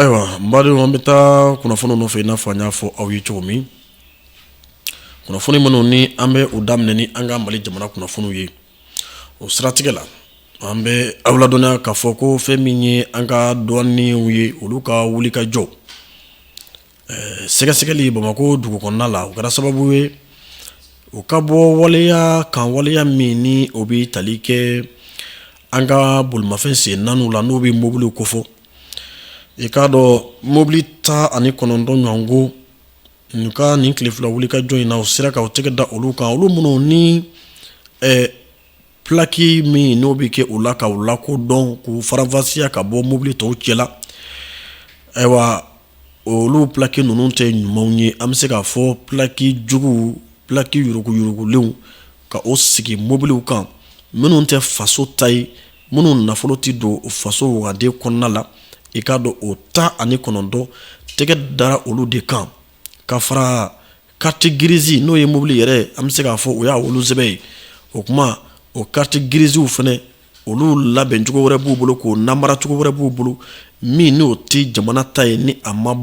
Ayiwa n badenw an bɛ taa kunnafoni nɔfɛ i n'a fɔ an y'a fɔ aw ye cogo min kunnafoni minnu ni an bɛ u daminɛ ni an ka mali jamana kunnafoniw ye o siratigɛ la an bɛ aw ladɔnniya k'a fɔ ko fɛn min ye an ka duwaniw ye olu ka wuli ka jɔ Sɛgɛsɛgɛli bamakɔ dugu kɔnɔna la o kɛra sababu ye u ka bɔ waleya kan waleya min ni o bɛ tali kɛ an ka bolimafɛn sen naaniw la n'o bɛ mobiliw kofɔ i k'a dɔn mɔbili tan ani kɔnɔntɔn ɲɔgɔn k'u ka nin tile fila wuli ka jɔ in na u sera k' u tɛgɛ da olu kan olu minnu ni Pilaki min n'o bɛ kɛ u la k'u lakodɔn k'u faranfasiya ka bɔ mobili tɔw cɛ la ayiwa olu pilaki ninnu tɛ ɲumanw ye an bɛ se k'a fɔ pilaki juguw pilaki yuruguyurugulenw ka o sigi mobiliw kan minnu tɛ faso ta ye minnu nafolo tɛ don faso wagande kɔnɔna la i k'a dɔn o tan ani kɔnɔntɔn tɛgɛ dara olu de kan ka fara kariti girizi n'o ye mobili yɛrɛ ye an bɛ se k'a fɔ o y'a wolo sɛbɛn ye o kuma o kariti giriziw fana olu labɛn cogo wɛrɛ b'u bolo k'o namara cogo wɛrɛ b'u bolo min n'o tɛ jamana ta ye ni a ma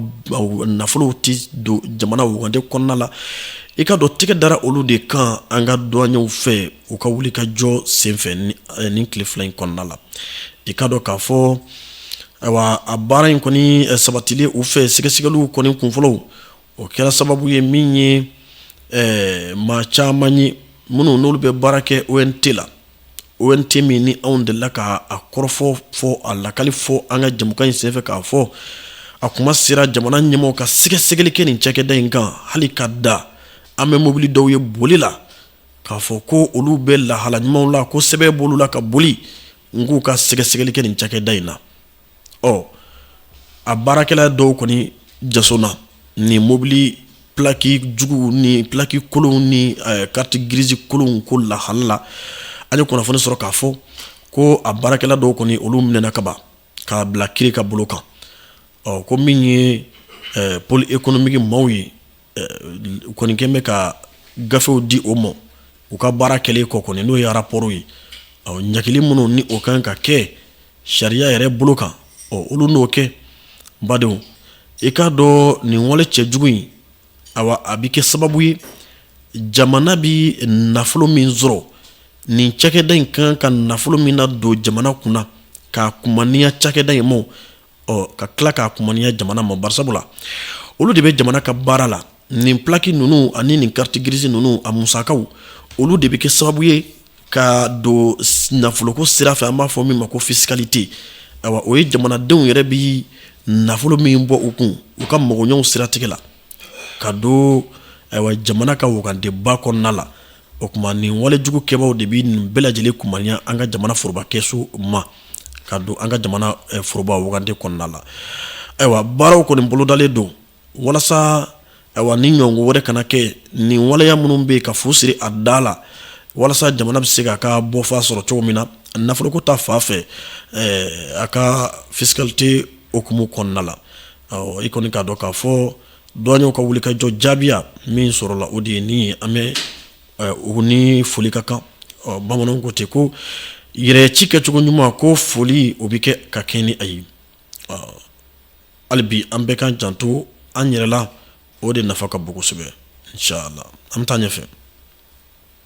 nafolow tɛ don jamana wagande kɔnɔna la i k'a dɔn tɛgɛ dara olu de kan an ka duwaɲɛw fɛ u ka wuli ka jɔ senfɛ nin tile fila in kɔnɔna la i k'a dɔn k'a fɔ ayiwa a baara in kɔni sabatili u fɛ sɛgɛsɛgɛliw kɔni kunfɔlɔw o kɛra sababu ye min ye ɛɛ maa caman ye minnu n'olu bɛ baara kɛ ONT la ONT min ni anw delila k'a kɔrɔfɔ fɔ a lakali fɔ an ka jɛmukan in senfɛ k'a fɔ a kuma sera jamana ɲɛmɔgɔ ka sɛgɛsɛgɛli kɛ nin cɛkɛda in kan hali ka da an bɛ mobili dɔw ye boli la k'a fɔ ko olu bɛ lahala ɲumanw la ko sɛbɛn b'olu la ka boli n k'u ka sɛgɛsɛgɛli kɛ nin cɛkɛda in na ɔ a baarakɛla dɔw kɔni jaso na ni mobili plaki jugu ni plaki kolon ni eh, kariti girizi kolon ko lahala la an ye kunnafoni sɔrɔ k'a fɔ ko a baarakɛla dɔw kɔni olu minɛna kaban k'u bila kiri ka bolo kan ɔ ko min ye eh, poli ekonomiki maaw ye kɔni kɛ bɛ ka gafew di o ma u ka baara kɛlen kɔ kɔni n'o ye arapɔri ye ɲangili minnu ni o ka kan ka kɛ sariya yɛrɛ bolo kan ɔ olu n'o kɛ bawo i k'a dɔn nin wale cɛjugu in a a bɛ kɛ sababu ye jamana bɛ nafolo min sɔrɔ nin cɛkɛda in ka kan ka nafolo min nadon jamana kunna k'a kumaniya cakɛda in ma ka tila k'a kumaniya jamana ma bari sabu la olu de bɛ jamana ka baara la nin plaque ninnu ani nin carte grise ninnu a musakaw olu de bɛ kɛ sababu ye ka don nafoloko sira fɛ an b'a fɔ min ma ko fiscalité ayiwa o ye jamanadenw yɛrɛ bɛ nafolo min bɔ u kun u ka makoɲɛw siratigɛ la ka don ayiwa jamana ka wagandeba kɔnɔna la o tuma nin walejugu kɛbaw de bɛ nin bɛɛ lajɛlen kumaniya an ka jamana forobakɛsu ma ka don an ka jamana eh, foroba wagande kɔnɔna la ayiwa baaraw kɔni bolodalen don walasa ayiwa nin ɲɔgɔn wɛrɛ kana kɛ nin waleya minnu bɛ yen ka fu siri a da la walasa jamana bɛ se k'a ka bɔfa sɔrɔ cogo min na nafoloko ta fan fɛ eh, a ka fiscalité hukumu kɔnɔna la i kɔni k'a dɔn k'a fɔ duwaɲɛw ka wulikajɔ jaabiya min sɔrɔla o de ye nin ye an bɛ eh, u ni foli ka kan bamananw ko ten ko yɛrɛ ci kɛcogo ɲuman ko foli o bɛ kɛ ka kan ni a ye hali bi an bɛɛ k'an janto an yɛrɛ la o de nafa ka bon kosɛbɛ inshallah an bɛ taa ɲɛfɛ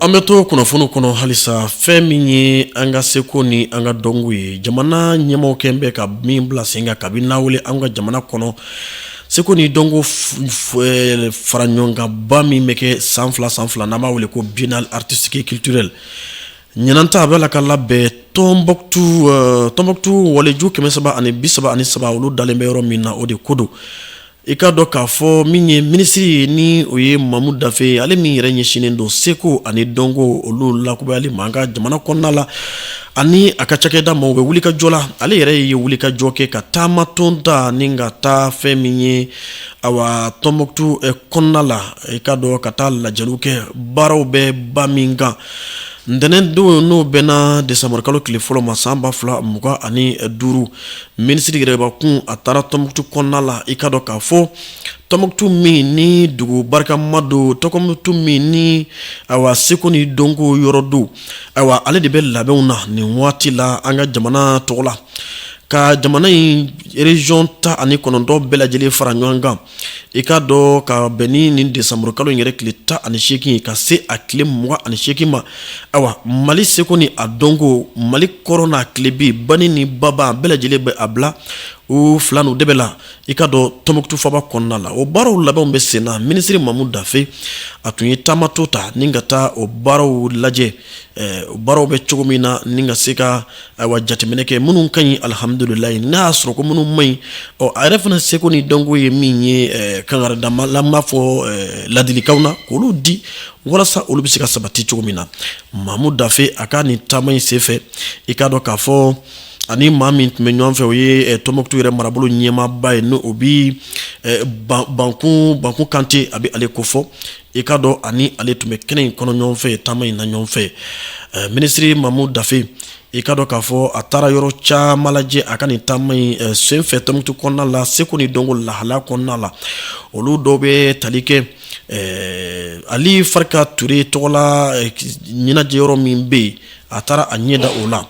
An bɛ to kunnafoni kɔnɔ halisa fɛn min ye an ka seko ni an ka dɔnko ye jamana ɲɛmɔgɔ kɛ bɛ ka min bila sen kan kabi n'a wele an ka jamana kɔnɔ seko ni dɔnko faraɲɔgɔnkanba min bɛ kɛ san fila san fila n'a b'a wele ko biennale artistique et culturelle ɲinan ta a b'a la ka labɛn tɔnbukutu tɔnbukutu waliju kɛmɛ saba ani bi saba ani saba olu dalen bɛ yɔrɔ min na o de ko don i k'a dɔn k'a fɔ min ye minisiri ye ni o ye mamu dafe ye ale min yɛrɛ ɲɛsinnen don seko ani dɔnko olu lakubayali ma an ka jamana kɔnɔna la ani a ka cakɛda ma u bɛ wulikajɔ la ale yɛrɛ ye wulikajɔ kɛ ka taama dɔ ta ni ka taa fɛn min ye awa tɔnbukutu eh, kɔnɔna la i k'a dɔn ka taa lajɛliw kɛ baaraw bɛ ba min kan ntɛnɛn don n'o bɛnna desanburukalo tile fɔlɔ ma san ba fila mugan ani duuru Minisiri yɛrɛbakun a taara tɔnbukutu kɔnɔna la i k'a dɔn k'a fɔ tɔnbukutu min ni dugu barikama don tɔnbukutu min ni awa seko ni dɔnko yɔrɔ don ayiwa ale de bɛ labɛnw na nin waati la an ka jamana tɔgɔ la ka jamana in région tan ani kɔnɔntɔn bɛɛ lajɛlen fara ɲɔgɔn kan i k'a dɔn ka bɛn ni nin desanburukalo in yɛrɛ tile tan ani seegin ye ka se a tile mugan ani seegin ma ayiwa mali seko ni a dɔnko mali kɔrɔn n'a tilebin bani ni baba bɛɛ lajɛlen bɛ a bila u fila n'u de bɛ la i k'a dɔn tɔnbukutu faba kɔnɔna la o baaraw labɛnw bɛ sen na minisiri mamu dafe a tun ye taama dɔ ta ni ka taa o baaraw lajɛ o baaraw bɛ cogo min na ni ka se ka Ayiwa jateminɛ kɛ minnu ka ɲi alihamdulila n'a y'a sɔrɔ ko minnu man ɲi ɔ a yɛrɛ fana seko ni dɔnko ye min ye eh, kankararɛndamala b'a fɔ eh, ladilikanw na k'olu di walasa olu bɛ se ka sabati cogo min na mamu dafe a ka nin taama in senfɛ i k'a dɔn k'a fɔ ani maa min tun bɛ ɲɔgɔn fɛ o ye eh, tɔnbɔkutu yɛrɛ marabolo ɲɛmaaba ye n'o bɛ bakun bakun kante a bɛ ale kofɔ i k'a dɔn ani ale tun bɛ kɛnɛ in kɔnɔ ɲɔgɔn fɛ taama in na ɲɔgɔn fɛ eh, minisiri mamu dafe i k'a dɔn k'a fɔ a taara yɔrɔ caman lajɛ a ka nin taama in eh, senfɛ tɔnbɔkutu kɔnɔna la seko ni dɔnko lahala kɔnɔna la olu dɔw bɛ tali kɛ eh, ali farika ture tɔgɔla ɲɛnajɛ yɔrɔ min bɛ yen a taara a ɲɛ da o la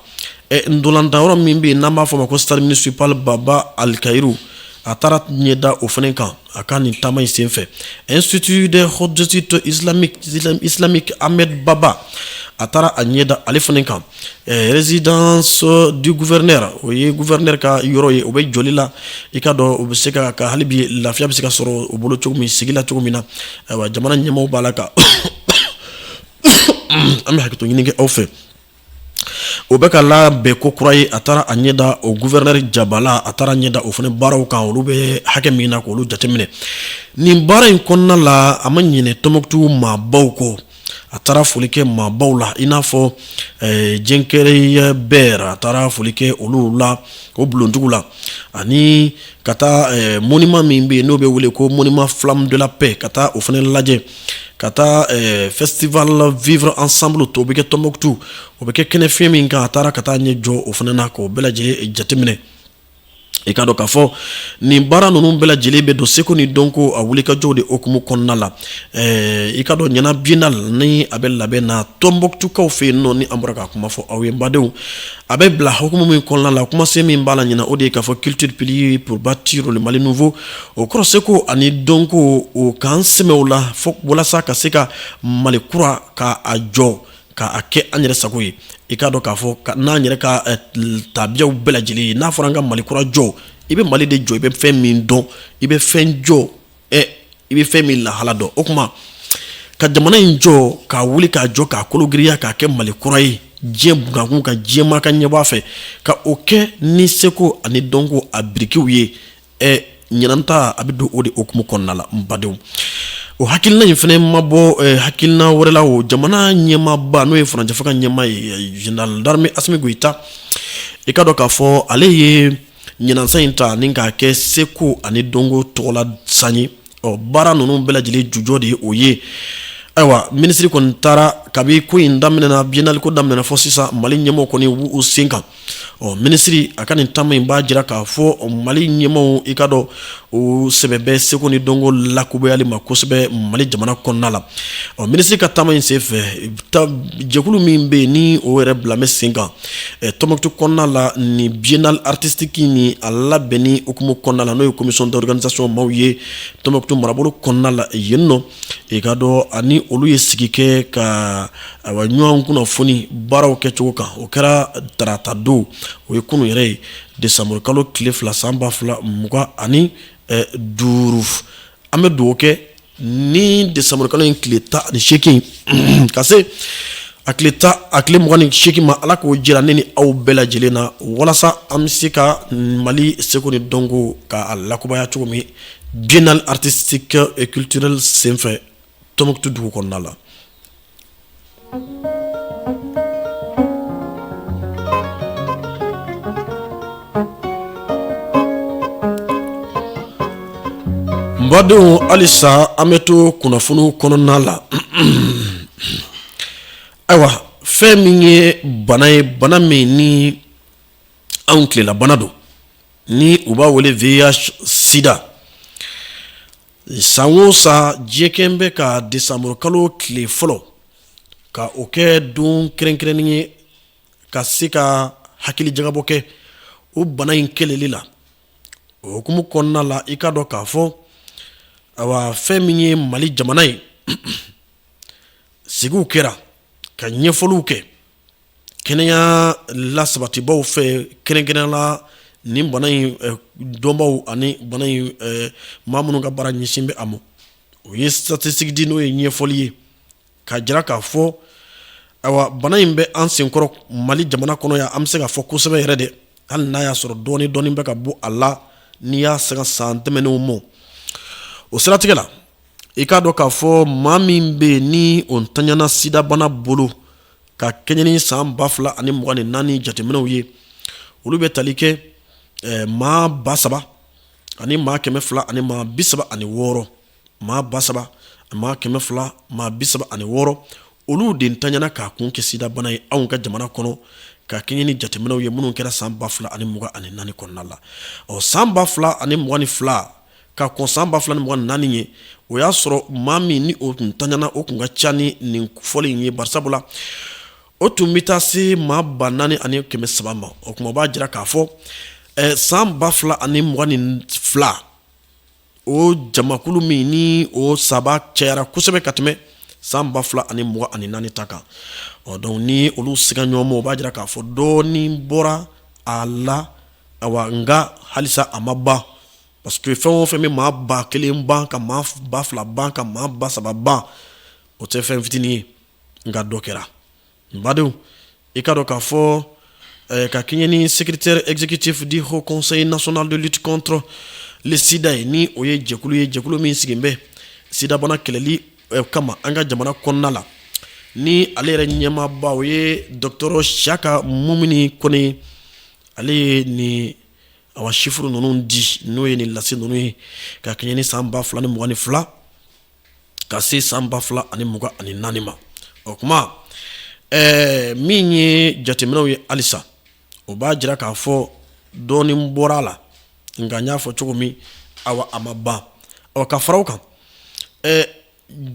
ntolatan yɔrɔ min bɛ yen n'an b'a fɔ ma ko stade municipal baba alikayiru a taara a ɲɛ da o fana kan a ka nin taama in senfɛ institut des hautes études islamiques ahmed baba a taara a ɲɛ da ale fana kan résidence du gouverneur o ye gufɛrɛnɛ ka yɔrɔ ye o bɛ jɔli la i k'a dɔn o bɛ se ka ka halibi lafiya bɛ se ka sɔrɔ o bolo cogo min sigila cogo min na jamana ɲɛw b'a la kan an bɛ hakɛ ɲini aw fɛ o bɛ ka labɛn kokura ye a taara a ɲɛda o gufɛrɛnɛ jabala a taara ɲɛda o fana baaraw kan olu bɛ hakɛ min na k'olu jateminɛ nin baara in kɔnɔna la a ma ɲinɛ tɔnbɔkutu maabaw kɔ a taara foli kɛ maabaw la i n'a fɔ eh, jingareyibɛri a taara foli kɛ olu la o bulontigiw la ani ka taa eh, mɔnima min bɛ yen n'o bɛ wele ko mɔnima flamme de la paix ka taa o fana lajɛ ka taa festival vivre ensemble o bɛ kɛ tɔnbɔkutu o bɛ kɛ kɛnɛ fi min kan a taara ka taa ɲɛ jɔ o fana na k'o bɛɛ lajɛlen jateminɛ i k'a dɔn k'a fɔ nin baara ninnu bɛɛ lajɛlen bɛ don seko ni dɔnko a wulikajɔ de hukumu kɔnɔna la i k'a dɔn ɲinan biennale nin a bɛ labɛn na tɔnbɔkutukaw fɛ yen nɔ ni an bɔra ka kuma fɔ aw ye badenw a bɛ bila hukumu min kɔnɔna la kumasen min b'a la ɲin o de ye k'a fɔ culture pilier pour bâtir mali nouveau O kɔrɔ seko ani dɔnko o k'an sɛmɛ o la fo walasa ka se ka mali kura ka a jɔ k'a kɛ an yɛrɛ sago ye i k'a dɔn k'a fɔ n'an yɛrɛ ka tabiyaw bɛɛ lajɛlen ye n'a fɔra an ka mali kura jɔ i bɛ mali de jɔ i bɛ fɛn min dɔn i bɛ fɛn jɔ ɛ i bɛ fɛn min lahala dɔn o tuma ka jamana in jɔ k'a wuli k'a jɔ k'a kolo giriya k'a kɛ mali kura ye diɲɛ bkun ka diɲɛ maa ka ɲɛbɔ a fɛ ka o kɛ ni seko ani dɔnko a birikiw ye ɛ ɲinan ta a bɛ don o de hukumu kɔnɔna la n badenw o hakilina in fana ma bɔ eh, hakilina wɛrɛ la o jamana ɲɛmaaba n'o ye furancɛfanga ɲɛmaa ye eh, général d'armée asimi goyita i k'a dɔn k'a fɔ ale ye ɲinan san in ta ni k'a kɛ seko ani dɔnko tɔgɔla san ye ɔ baara ninnu bɛɛ lajɛlen jujɔ de ye o ye ayiwa minisiri kɔni taara kabi ko in daminɛna biennale ko daminɛna fɔ sisan mali ɲɛmɔgɔw kɔni b'u sen kan ɔ minisiri a ka nin taama in b'a jira k'a fɔ mali ɲɛmɔgɔw i ka dɔn u sɛbɛ bɛ seko ni dɔnko lakubayali ma kosɛbɛ mali jamana kɔnɔna la ɔ minisiri ka taama in senfɛ jɛkulu min bɛ yen ni o yɛrɛ bilalen bɛ sen kan Tombouctou kɔnɔna la ni biennale artistique ni a labɛnni hukumu kɔnɔna la n'o ye commission d'organisation maaw ye Tombouctou marabolo kɔnɔna la yen ni ɔ i ka dɔn ani olu ye sigi kɛ ka awa ɲɔgɔn kunnafoni baaraw kɛcogo kan o kɛra tarata don o ye kunun yɛrɛ ye desanburukalo tile fila san ba fila mugan ani duuru an bɛ dugawu kɛ ni desanburukalo in tile tan ani seeki ka se a tile tan a tile mugan ni seeki ma ala k'o jira ne ni aw bɛɛ lajɛlen na walasa an bɛ se ka mali seko ni dɔnko k'a lakubaya cogo min biennale artistique et culturelle senfɛ Tombouctou dugu kɔnɔna la Badenw halisa an bɛ to kunnafoni kɔnɔna la ayiwa fɛn min ye bana ye bana min ni anw tilelabana don ni u b'a wele VIH sida San o san diɲɛ kɛnɛ bɛ ka desanburukalo tile fɔlɔ ka o kɛ don kɛrɛnkɛrɛnnen ye ka se ka hakilijagabɔ kɛ o bana in kɛlɛli la o hukumu kɔnɔna la i ka dɔn k'a fɔ awa fɛn min ye mali jamana ye sigiw kɛra ka ɲɛfɔliw kɛ kɛnɛya lasabatibaw fɛ kɛrɛnkɛrɛnnenya la ni bana in eh, dɔnbaw ani bana in eh, maa minnu ka baara ɲɛsin bɛ a ma o ye statistique di n'o ye ɲɛfɔli ye ka jira k'a fɔ ayiwa bana in bɛ an senkɔrɔ mali jamana kɔnɔ yan an bɛ se k'a fɔ kosɛbɛ yɛrɛ dɛ hali n'a y'a sɔrɔ dɔɔni dɔɔni bɛ ka bɔ a la n'i y'a sanga san tɛmɛnenw ma o siratigɛ la i k'a dɔn k'a fɔ maa min bɛ yen ni o ntanyana sidabana bolo ka kɛɲɛ ni san ba fila ani mugan ni naani jateminɛw ye olu bɛ tali kɛ eh, maa ba saba ani maa kɛmɛ fila ani maa bi saba ani wɔɔrɔ maa ba saba maa kɛmɛ fila maa bi saba ani wɔɔrɔ olu de ntanyana k'a kun kɛ sidabana ye anw ka jamana kɔnɔ ka kɛɲɛ ni jateminɛw ye minnu kɛra san ba fila ani mugan ani naani kɔnɔna la ɔ san ba fila ani mugan ni fila ka kɔn san ba fila ni mugan ni naani ɲɛ o y'a sɔrɔ maa min ni o tun tanyana o tun ka ca ni nin fɔli in ye basa la o tun bɛ taa se maa ba naani ani kɛmɛ saba ma o tuma b'a jira k'a fɔ san ba fila ani mugan ni fila o jamakulu min ni o saba cayara kosɛbɛ ka tɛmɛ san ba fila ani mugan ani naani ta kan ɔ donc ni olu sigi ɲɔgɔn ma o b'a jira k'a fɔ dɔɔnin bɔra a la nka halisa a ma ban parce que fɛn o fɛn bɛ maa ba kelen ban ka maa ba fila ban ka maa ba saba ban o tɛ fɛn fitinin ye nka dɔ kɛra badenw i k'a dɔn k'a fɔ ka kɛɲɛn ni secrétariat exécutif du haut conseil national de lutte contre le sida ye ni o ye jɛkulu ye jɛkulu min sigilen bɛ sidabana kɛlɛli kama an ka jamana kɔnɔna la ni ale yɛrɛ ɲɛmaaba o ye dɔgɔtɔrɔ siyaka mumini kɔnɛ ale ye nin awa sifuru ninnu di n'o ye nin lase ninnu ye ka kɛɲɛ ni san ba fila ni mugan ni fila ka se san ba fila ani mugan ani naani ma o kuma ɛɛ min ye jateminɛw ye halisa o b'a jira k'a fɔ dɔɔnin bɔra a la nka n y'a fɔ cogo min awa a ma ban ɔ ka fara o kan ɛɛ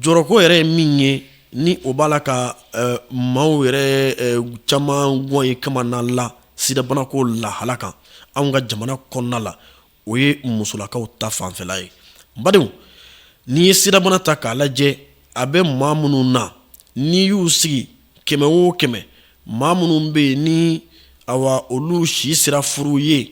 jɔrɔko yɛrɛ ye min ye ni o b'a la ka eh, maaw yɛrɛ eh, caman gan ye kamana la sidabanako lahala kan anw ka jamana kɔnɔna la o ye musolakaw ta fanfɛla ye n badenw n'i ye sidabana ta k'a lajɛ a bɛ maa minnu na n'i y'u sigi kɛmɛ o kɛmɛ maa minnu bɛ yen ni awa olu si sera furu ye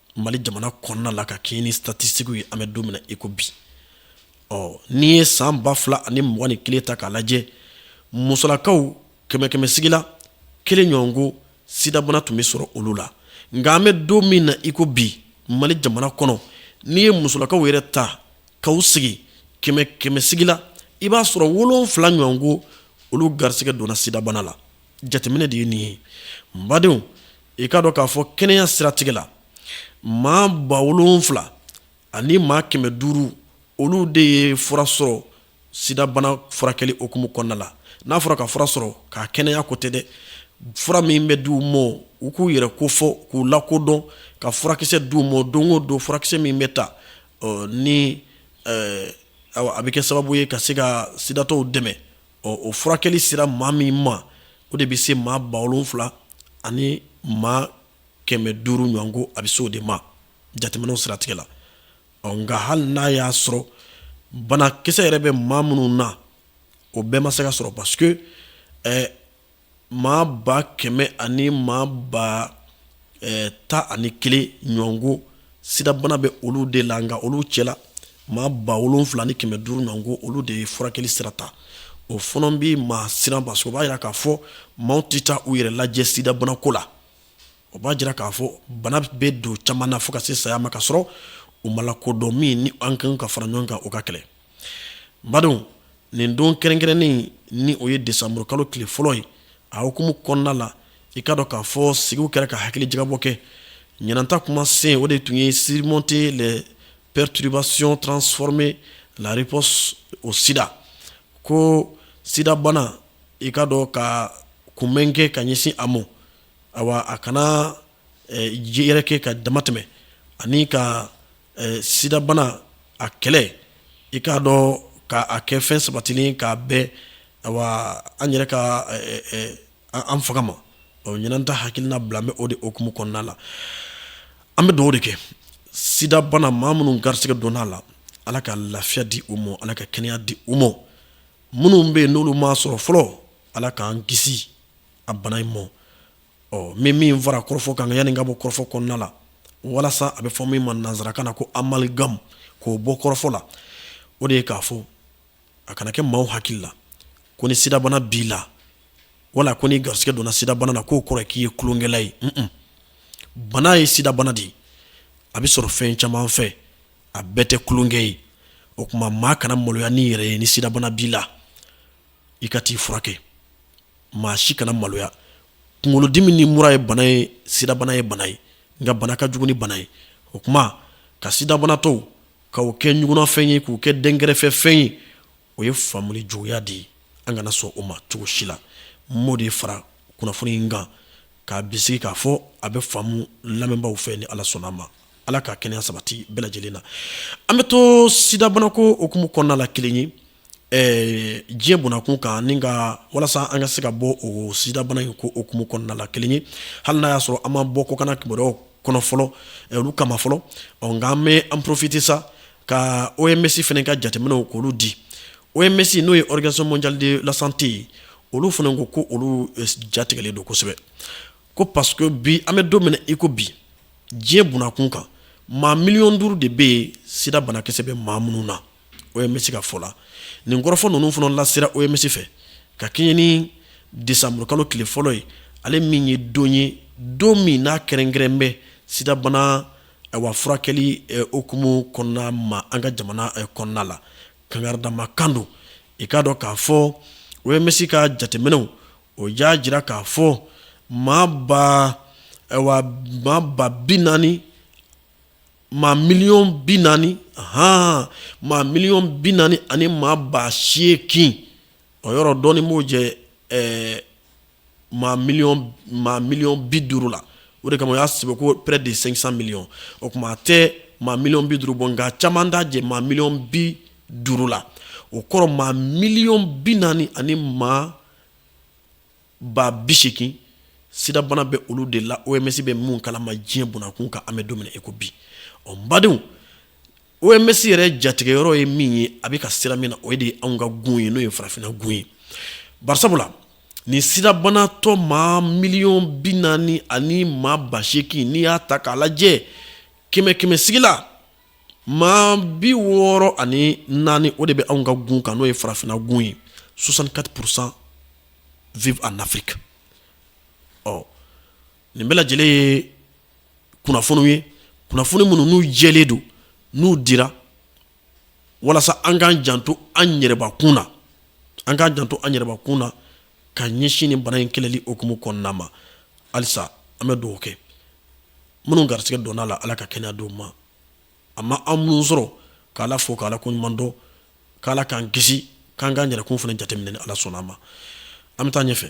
mali jamana kɔnɔna la ka kɛɲɛ ni satisitikiw ye an bɛ don min na iko bi ɔ n'i ye san ba fila ani mugan ni kelen ta k'a lajɛ musolakaw kɛmɛ kɛmɛsigi la kelen ɲɔgɔn ko sidabana tun bɛ sɔrɔ olu la nka an bɛ don min na iko bi mali jamana kɔnɔ n'i ye musolakaw yɛrɛ ta k'u sigi kɛmɛ kɛmɛsigi la i b'a sɔrɔ wolonfila ɲɔgɔn ko olu garisɛgɛ donna sidabana la jateminɛ de ye nin ye badenw i k'a dɔn k'a fɔ kɛnɛya siratigɛ la maa ba wolonfila ani maa kɛmɛ duuru olu de ye fura sɔrɔ sidabana furakɛli hukumu kɔnɔna la n'a fɔra ka fura sɔrɔ ka kɛnɛya ko tɛ dɛ fura min bɛ di u ma u k'u yɛrɛ kofɔ k'u lakodɔn ka furakisɛ di u ma don o don furakisɛ min bɛ ta ni awa a bɛ kɛ sababu ye ka se ka sidatɔw dɛmɛ ɔ o furakɛli sera maa min ma o de bɛ se maa ba wolonfila ani maa kɛmɛ duuru ɲɔgɔn ko a bɛ se o de ma jateminɛw siratigɛ la ɔ nka hali n'a y'a sɔrɔ banakisɛ yɛrɛ bɛ maa minnu na o bɛɛ ma se ka sɔrɔ parce que maa ba kɛmɛ ani maa ba tan ani kelen ɲɔgɔnko sidabana bɛ olu de la nka olu cɛ la maa ba wolonwula ni kɛmɛ duuru ɲɔgɔnko olu de ye furakɛli sira ta o fana bɛ maa siran o b'a jira k'a fɔ maaw tɛ taa u yɛrɛ lajɛ sidabana ko la o b'a jira k'a fɔ bana bɛ dɔ caman na fo ka se saya ma ka sɔrɔ u ma lakodɔn min ni an kan ka fara ɲɔgɔn kan k'a kɛlɛ nba don nin don kɛrɛnkɛrɛnnen ni o ye desanburu kalo tile fɔlɔ ye a hukumu kɔnɔna la i k'a dɔn k'a fɔ sigiw kɛra ka hakilijagabɔ kɛ ɲinan ta kuma sen o de tun ye surmonter les perturbations transformer la riposte au sida ko sidabana i k'a dɔn ka kunbɛn kɛ ka ɲɛsin a ma awa a kana ji yɛrɛkɛ ka dama tɛmɛ ani ka sidabana a kɛlɛ i k'a dɔn k'a kɛ fɛn sabatilen k'a bɛn awa an yɛrɛ ka an fanga ma ɲinan ta hakilina bilalen bɛ o de hukumu kɔnɔna la an bɛ duwaw de kɛ sidabana maa minnu garisɛgɛ donna a la ala ka lafiya di u ma ala ka kɛnɛya di u ma minnu bɛ yen n'olu m'a sɔrɔ fɔlɔ ala k'an kisi a bana in ma ɔ min min fara kɔrɔfɔ kan yanni ka bɔ kɔrɔfɔ kɔnɔna la walasa a bɛ fɔ min ma nansarakan na ko amalgame k'o bɔ kɔrɔfɔ la o de ye k'a fɔ a kana kɛ maaw hakili la ko ni sidabana b'i la wala ko n'i garisɛgɛ donna sidabana na k'o kɔrɔ k'i ye kolonkɛla ye bana ye sidabana de ye a bɛ sɔrɔ fɛn caman fɛ a bɛɛ tɛ kolonkɛ ye o tuma maa kana maloya n'i yɛrɛ ye ni sidabana b'i la i ka t'i furakɛ maa si kana maloya kunkolodimi ni mura ye bana ye sidabana ye bana ye nka bana ka jugu ni bana ye o tuma ka sidabanatɔw k'u kɛ ɲugunnafɛn ye k'u kɛ dɛnkɛrɛfɛ fɛn ye o ye faamuli juguya de ye an kana sɔn o ma cogo si la n b'o de fara kunnafoni in kan k'a bisigi k'a fɔ a bɛ faamu lamɛnbaaw fɛ ni ala sɔnna a ma ala ka kɛnɛya sabati bɛɛ lajɛlen na an bɛ to sidabana ko hukumu kɔnɔna la kelen ye diɲɛ bɔnakun kan nka walasa an ka se ka bɔ o sidabana in ko hukumu kɔnɔna la kelen ye hali n'a y'a sɔrɔ an ma bɔ kɔkanna kibaruya kɔnɔ fɔlɔ olu kama fɔlɔ ɔ nka an bɛ an profiter sa ka oms fana ka jateminɛw k'olu di oms n'o ye organisation mondiale de la santé ye olu fana ko ko olu jatigɛlen don kosɛbɛ ko parce que bi an bɛ don min na i ko bi diɲɛ bɔnakun kan maa miliyɔn duuru de bɛ yen sidabana kisɛ bɛ maa minnu na oms ka fɔ la nin kɔrɔfɔ ninnu fana lasera oms fɛ ka kɛɲɛn ni desanburukalo tile fɔlɔ ye ale min ye don ye don min n'a kɛrɛnkɛrɛnnen bɛ sidabana awa furakɛli hukumu kɔnɔna ma an ka jamana kɔnɔna la kangari da maa kan don i k'a dɔn k'a fɔ OMS ka jateminɛw o y'a jira k'a fɔ maa ba ayiwa maa ba bi naani maa miliyɔn bi naani hɔn maa miliyɔn bi naani ani maa ba seegin o yɔrɔ dɔɔnin b'o jɛ ɛɛ maa miliyɔn bi duuru la o de kama o y'a sɛbɛn ko près de cinq cents millions o tuma a tɛ maa miliyɔn bi duuru bɔ nka caman t'a jɛ maa miliyɔn bi duuru la o kɔrɔ maa miliyɔn bi naani ani maa ba biseegin sidabana bɛ olu de la OMS bɛ minnu kalama diɲɛ bɔnna kun kan an bɛ don min na i ko bi ɔ badenw OMS yɛrɛ jatigɛ yɔrɔ ye min ye a bɛ ka siran min na o de ye anw ka gun ye n'o ye farafinna gun ye bari sabula nin sidabanatɔ maa miliyɔn bi naani ani maa ba seegin n'i y'a ta k'a lajɛ kɛmɛ kɛmɛsigi la maa bi wɔɔrɔ ani naani o de bɛ anw ka gun kan n'o ye farafinna gun ye soixante-quatre pour cent vivent en Afrique ɔ nin bɛɛ lajɛlen ye kunnafoniw ye kunnafoni minnu n'u jɛlen don n'u dira walasa an k'an janto an yɛrɛbakun na an k'an janto an yɛrɛbakun na ka ɲɛsin nin bana in kɛlɛli hukumu kɔnɔna ma halisa an bɛ dugawu kɛ minnu garisɛgɛ donna la ala ka kɛnɛya d'u ma a ma an minnu sɔrɔ k' ala fo k' ala ko ɲuman dɔn k' ala k'an kisi k'an ka yɛrɛkun fana jateminɛ ni ala sɔnna a ma an bɛ taa ɲɛ fɛ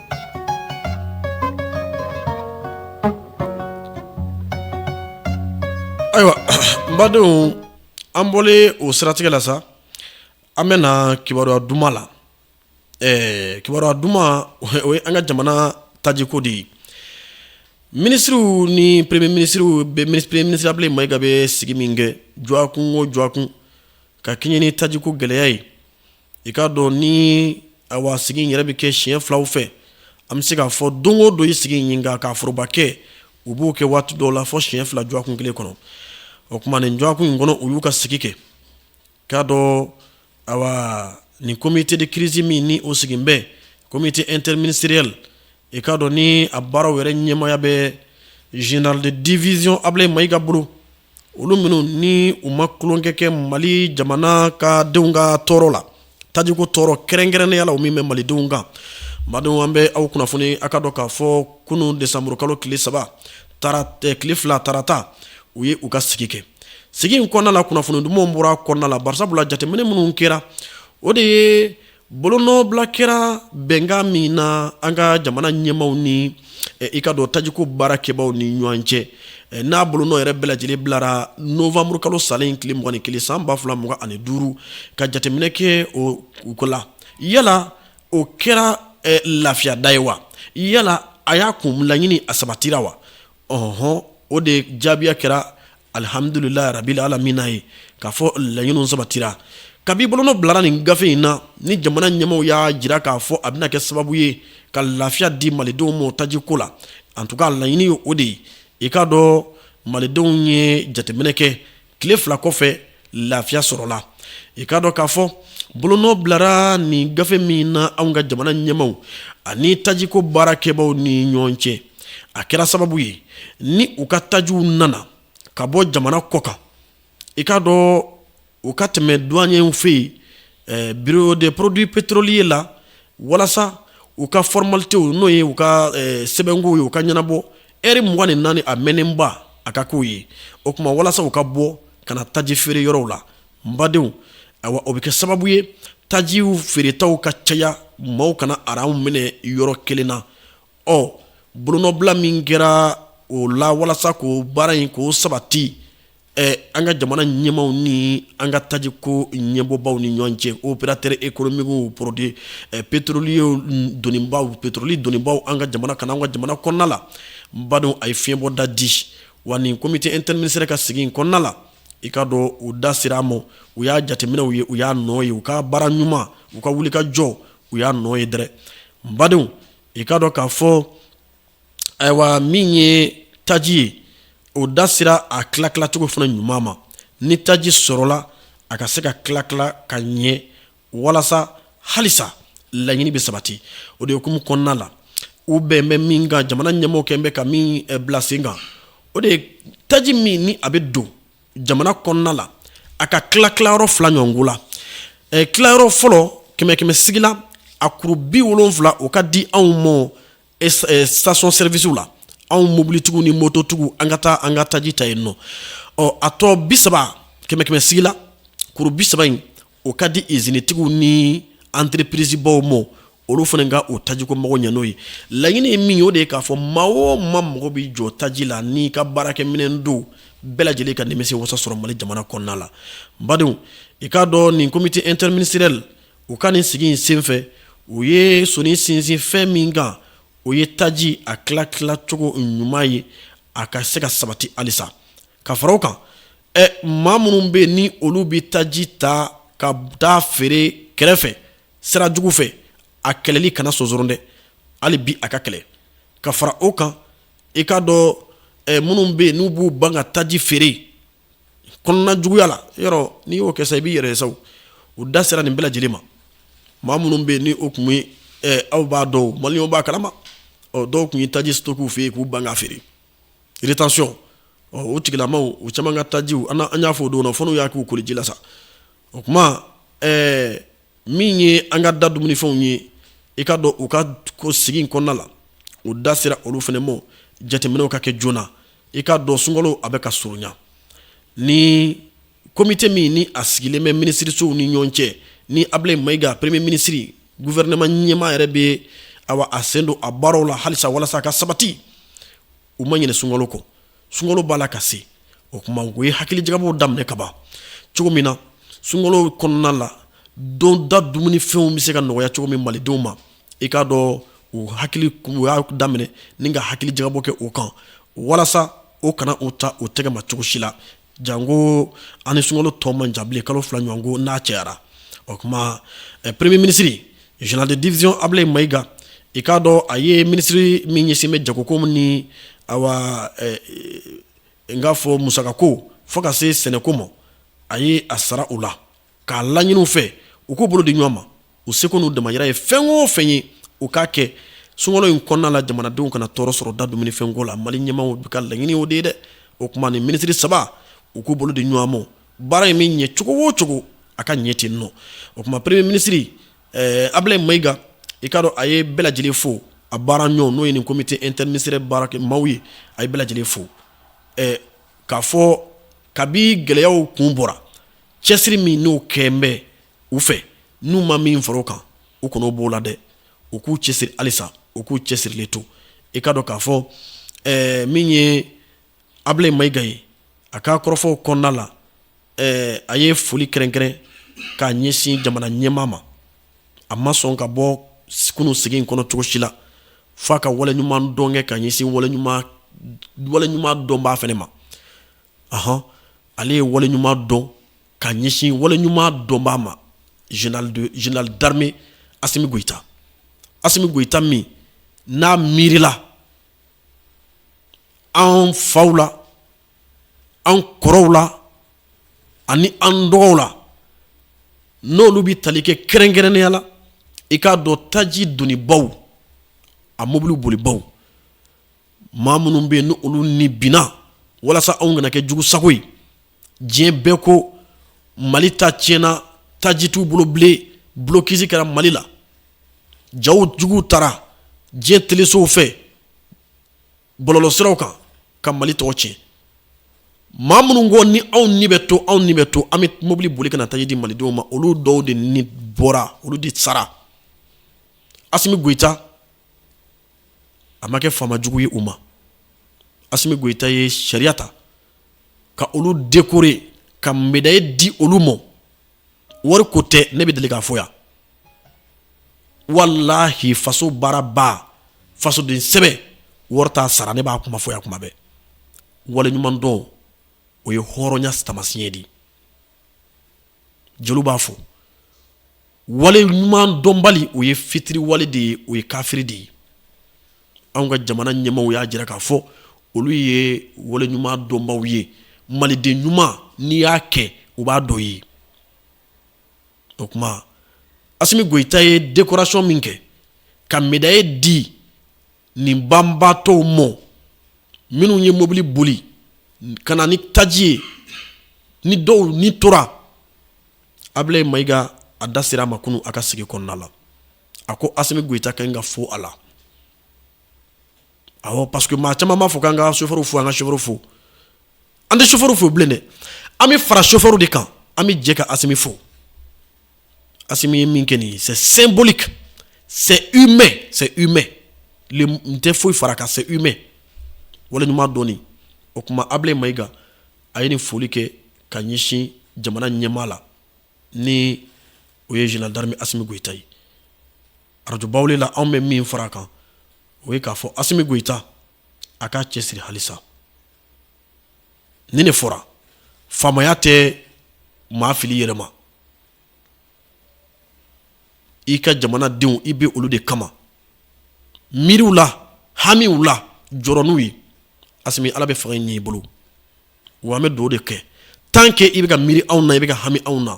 Ayiwa badenw an bɔra o siratigɛ la sa an bɛ na kibaruya duman la kibaruya duman o ye an ka jamana tajiko de ye minisiriw ni premier minisiriw bɛ premier minisiri Abdoulaye Maïga bɛ sigi min kɛ dɔgɔkun o dɔgɔkun ka kɛɲɛ ni tajiko gɛlɛya ye i k'a dɔn ni ayiwa sigi yɛrɛ bɛ kɛ siɲɛ filaw fɛ an bɛ se k'a fɔ don o don i sigi ɲini kan k'a foroba kɛ u b'o kɛ waati dɔw la fɔ siɲɛ fila dɔgɔkun kelen kɔnɔ o tuma nin dɔgɔkun in kɔnɔ u y'u ka sigi kɛ i k'a dɔn nin comité de crise min ni o sigilen bɛ comité interministériel i k'a dɔn ni a baaraw yɛrɛ ɲɛmɔgɔya bɛ général de division Abdoulaye Maïga bolo olu minnu ni u ma kolonkɛ kɛ mali jamana ka denw ka tɔɔrɔ la tajiko tɔɔrɔ kɛrɛnkɛrɛnnenya la o min bɛ malidenw kan n badenw an bɛ aw kunnafoni a k'a dɔn k'a fɔ kunun desanburukalo tile saba tile fila tarata u ye u ka sigi kɛ sigi in kɔnɔna la kunnafoni dumanw bɔra kɔnɔna la bari sabula jateminɛ minnu kɛra o de ye Bolonɔbila kɛra bɛnkan min na an ka jamana ɲɛmaw ni i k'a dɔn tajiko baara kɛbaw ni ɲɔgɔn cɛ n'a bolonɔ yɛrɛ bɛɛ lajɛlen bilara nowanburu kalo salen in tile mugan ni kelen san ba fila mugan ani duuru ka jateminɛ kɛ o ko la yala o kɛra lafiyada ye wa yala a y'a kun laɲini a sabatira wa ɔnhɔn o de jaabi y'a kɛra alihamdulilahi rabili alamina ye k'a fɔ laɲini sabatira kabi bolonɔ bilara nin gafe in na ni jamana ɲɛmaw y'a jira k'a fɔ a bɛna kɛ sababu ye ka lafiya di malidenw ma taji ko la an tun ka laɲini ye o de ye i k'a dɔn malidenw ye jateminɛ kɛ tile fila kɔfɛ lafiya sɔrɔla i k'a dɔn k'a fɔ bolonɔ bilara nin gafe min na anw ka jamana ɲɛmaw ani tajiko baara kɛbaw ni ɲɔgɔn cɛ a kɛra sababu ye ni u ka tajiw nana ka bɔ jamana kɔ kan i k'a dɔn u ka tɛmɛ duwanyew fɛ yen eh, bureau de produits pétroliers la walasa u ka fɔrɔmalitew n'o ye u ka eh, sɛbɛnko ye u ka ɲɛnabɔ ɛri mugan ni naani a mɛnnenba a ka k'o ye o tuma walasa u ka bɔ ka na taji feere yɔrɔw la n badenw ayiwa o bɛ kɛ sababu ye tajiw feeretaw ka caya maaw kana aranw minɛ yɔrɔ kelen na ɔ bolonɔbila min kɛra o la walasa k'o baara in k'o sabati an ka jamana ɲɛmaw ni an ka taji ko ɲɛmɔgɔbaw ni ɲɔgɔn cɛ opérateur économiquew produits pétroliers donnibaw pétrole donnibaw an ka jamana kan an ka jamana kɔnɔna la n badenw a ye fiɲɛbɔda di wa nin comité interministériel ka sigi kɔnɔna la i k'a dɔn u da sera a ma u y'a jateminɛw ye u y'a nɔ ye u ka baara ɲuman u ka wulikajɔ u y'a nɔ ye dɛrɛ n badenw i k'a dɔn k'a fɔ ayiwa min ye taji ye o da sera a tila tilacogo fana ɲuman ma ni taji sɔrɔla a ka se ka tila tila ka ɲɛ walasa halisa laɲini bɛ sabati o de hukumu kɔnɔna la u bɛn bɛ min kan jamana ɲɛmɔgɔ kɛ bɛ ka min eh, bila sen kan o de ye taji min ni a bɛ don jamana kɔnɔna la a ka tila tilayɔrɔ fila ɲɔgɔn la eh, tilayɔrɔ fɔlɔ kɛmɛ kɛmɛ sigi la a kuru bi wolonfila o ka di anw ma station servicew la anw mobilitigiw ni mototigiw an ka taa an ka taji ta yen nɔ ɔ a tɔ bi saba kɛmɛ kɛmɛ sigi la kuru bi saba in o ka di izinitigiw ni entreprisebaw ma olu fana ka o tajiko mago ɲɛ n'o ye laɲini ye min o de ye k'a fɔ maa o maa mago bɛ jɔ taji la n'i ka baarakɛminɛn don bɛɛ lajɛlen ka nimisi wasa sɔrɔ mali jamana kɔnɔna la badenw i k'a dɔn nin comité interministériel u ka nin sigi in senfɛ u ye soni sinsin fɛn min kan o ye taji a tila tilacogo ɲuman ye a ka se ka sabati halisa ka fara o kan ɛ maa minnu bɛ ni olu bɛ taji ta ka taa feere kɛrɛfɛ sira jugu fɛ a kɛlɛli kana sonsoron dɛ hali bi a ka kɛlɛ ka fara o kan i k'a dɔn minnu bɛ yen n'u b'u ban ka taji feere kɔnɔna juguya la yɔrɔ n'i y'o kɛ i b'i yɛrɛ sa u da sera nin bɛɛ lajɛlen ma maa minnu bɛ ni o tun ye aw b'a dɔn mali b'a kalama dɔw tun ye taji stocker u fɛ yen k'u ban k'a feere rétention u tigilamaw caman ka tajiw an y'a fɔ o don fana y'a k'u kuluji la sa o tuma min ye an ka da dumunifɛnw ye i k'a dɔn u ka ko sigi kɔnɔna la u da sera olu fana ma jateminɛw ka kɛ joona i k'a dɔn sunkalo a bɛ ka surunya ni komite min ni a sigilen bɛ minisirisow ni ɲɔgɔn cɛ ni abilaye mayiga premier minisiri gufɛrɛnɛma ɲɛmaa yɛrɛ bɛ a sen don a baaraw la halisa walasa a ka sabati u ma ɲinɛ sunkalo kɔ sunkalo b'a la ka se o tuma u ye hakili jagabɔ daminɛ kaban cogo min na sunkalo kɔnɔna la don da dumuni fɛnw bɛ se ka nɔgɔya cogo min malidenw ma i k'a dɔn u hakili u y'a daminɛ ni ka hakili jagabɔ kɛ o kan walasa o kana u ta u tɛgɛ ma cogo si la Janko an ni sunkalo tɔ man jan bilen kalo fila ɲɔgɔn ko n'a cayara o tuma premier minisiri général de division abilaye mayiga i k'a dɔn a ye minisiri min ɲɛsin bɛ jagoko ma ni n k'a fɔ musaka ko fo ka se sɛnɛko ma a ye a sara u la k'a laɲini u fɛ u k'u bolo di ɲɔgɔn ma u seko n'u damajira ye fɛn o fɛn ye u k'a kɛ sunkalo in kɔnɔna la jamanadenw kana tɔɔrɔ sɔrɔ da dumunifɛnko la mali ɲɛmaaw bɛɛ ka laɲini o de ye dɛ o tuma ni minisiri saba u k'u bolo di ɲɔgɔn ma baara in bɛ ɲɛ cogo o cogo a ka ɲɛ ten nɔ o tuma premier minisiri eh, abilaye mayiga i k'a dɔn a ye bɛɛ lajɛlen fo a baara ɲɔgɔn n'o ye nin komite interministériel baarakɛmaaw ye a ye bɛɛ lajɛlen fo eh, k'a fɔ kabi gɛlɛyaw kun bɔra cɛsiri min n'o kɛ bɛɛ u fɛ n'u ma min fara o kan u kana b'o la dɛ u k'u cɛ siri halisa u k'u cɛ sirilen to i k'a dɔn k'a fɔ min ye abilaye mayiga ye a ka kɔrɔfɔw kɔnɔna la a ye foli kɛrɛnkɛrɛn k'a ɲɛsin jamana ɲɛmaa ma a ma sɔn ka bɔ kunun sigi in kɔnɔ cogosi la f'a ka wale ɲuman dɔn kɛ k'a ɲɛsin wale ɲuman dɔnbaa fana ma aɔn ale ye wale ɲuman dɔn ka ɲɛsin wale ɲuman dɔnba ma Général d'armée Asimi Goyita Asimi Goyita min n'a miirila an faw la an kɔrɔw la ani an dɔgɔw la n'olu bɛ tali kɛ kɛrɛnkɛrɛnnenya la i k'a dɔn taji donibaw a mɔbili bolibaw maa minnu bɛ yen n'olu ni binna walasa anw kana kɛ jugu sago ye diɲɛ bɛɛ ko mali ta tiɲɛna taji t'u bolo bilen blocus kɛra mali la jaw jugu taara diɲɛ telesow fɛ bɔlɔlɔ siraw kan ka mali tɔgɔ tiɲɛ maa minnu ko ni anw ni bɛ to anw ni bɛ to an bɛ mobili boli ka na taji di malidenw ma olu dɔw de ni bɔra olu de sara Asimi Goyita a ma kɛ faama jugu ye u ma Asimi Goyita ye sariya ta ka olu dekore ka medayi di olu ma wari ko tɛ ne bɛ deli k'a fɔ yan wallayi faso baaraba fasoden sɛbɛ wari t'a sara ne b'a kuma fɔ yan kuma bɛɛ wale ɲumandɔn o ye hɔrɔnya taamasiyɛn de jeliw b'a fɔ wale ɲuman dɔnbali o ye fitiri wale de ye o ye kafiri de ye anw ka jamana ɲɛmaw y'a jira k'a fɔ olu ye wale ɲuman dɔnbaw ye maliden ɲuman n'i y'a kɛ u b'a dɔn i ye o tuma asimi goyita ye dekorasɔn min kɛ ka medayi di nin banbatɔw ma minnu ye mobili boli ka na ni taji ye ni dɔw ni tora Ablayi Mayiga a da sera a ma kunun a ka sigi kɔnɔna la a ko Asimi Goyita k'an k'a fo a la ɔ parce que maa caman b'a fɔ k'an ka sofɛri fo an ka sofɛri fo an tɛ sofɛri fo bilen dɛ an bɛ fara sofɛri de kan an bɛ jɛ ka Asimi fo Asimi ye min kɛ nin ye c'est symbolique c'est humain c'est humain ne tɛ foyi fara a kan c'est humain waleɲuman dɔnni, o tuma Ablayi Mayiga a ye nin foli kɛ ka ɲɛsin jamana ɲɛmaa la ni o ye Général d'armée Asimi Goyita ye radio Bawule la anw bɛ min fara a kan o ye k'a fɔ Asimi Goyita a k'a cɛsiri halisa ni de fɔra faamaya tɛ maa fili i yɛrɛ ma i ka jamanadenw i bɛ olu de kama miiri u la hami u la jɔrɔ n'u ye Asimi ala bɛ fanga ɲɛ i bolo wa an bɛ do de kɛ tan kɛ i bɛ ka miiri anw na i bɛ ka hami anw na